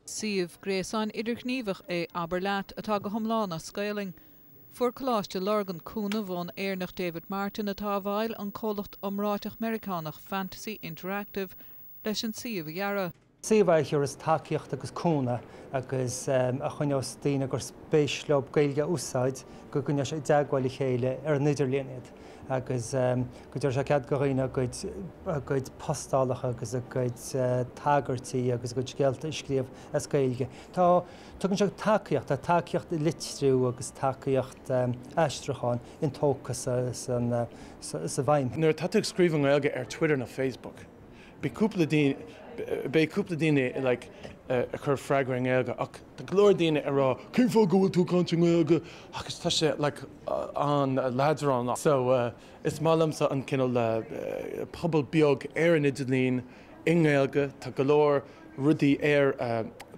Suíomh gréasáin idirghníomhach é Abair Leat atá go hiomlán as Gaelainn. Fuair Coláiste Lurgan cúnamh ón Éireannach David Martin atá i bhfeighil an comhlacht iomráiteach Meiriceánach Fantasy Interactive leis an suíomh a dhearadh. Suíomh a thabharfas tacaíocht agus cúnamh agus a choinneos daoine gur spéis leo Gaeilge a úsáid, go gcoinneodh sé i dteagmháil le chéile ar an idirlíon iad. agus go dtabharfadh sé cead do dhaoine a gcuid postálacha agus a gcuid tagairtí agus a gcuid scéalta a scríobh as Gaeilge. Tá, tugann sé tacaíocht, tá tacaíocht litriú agus tacaíocht aistriúcháin intógtha sa bhfeidhm. Nuair atá tú ag scríobh i nGaeilge ar Twitter nó Facebook, beidh cúpla daoine ag cur freagra i nGaeilge ach, Tá go leor daoine ag rá cén fáth go bhfuil tú ag caint i nGaeilge agus tá sé like an-leadránach so is maith liomsa an cineál pobal beag ar an idirlíon i nGaeilge tá go leor rudaí ar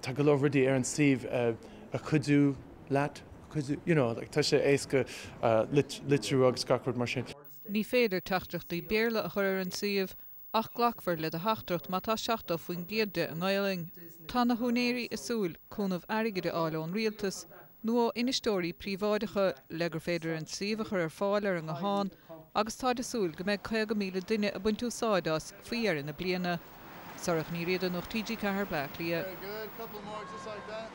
tá go leor rudaí ar an suíomh a chuidiú leat a chuidiú you know like tá sé éasca litriú agus gach rud mar sin. Ní féidir teachtaireachtaí Béarla a chur ar an suíomh ach glacfar le do theachtaireacht má tá 70% de i nGaelainn. Tá na húinéirí ag súil cúnamh airgid a fháil ón Rialtas nó ó infheisteoirí príobháideacha le gur féidir an suíomh a chur ar fáil ar an nguthán agus táid ag súil go mbeidh 50,000 duine ag baint úsáid as faoi dheireadh na bliana. Sorcha Ní Riada, Nuacht TG4, Baile Átha Cliath.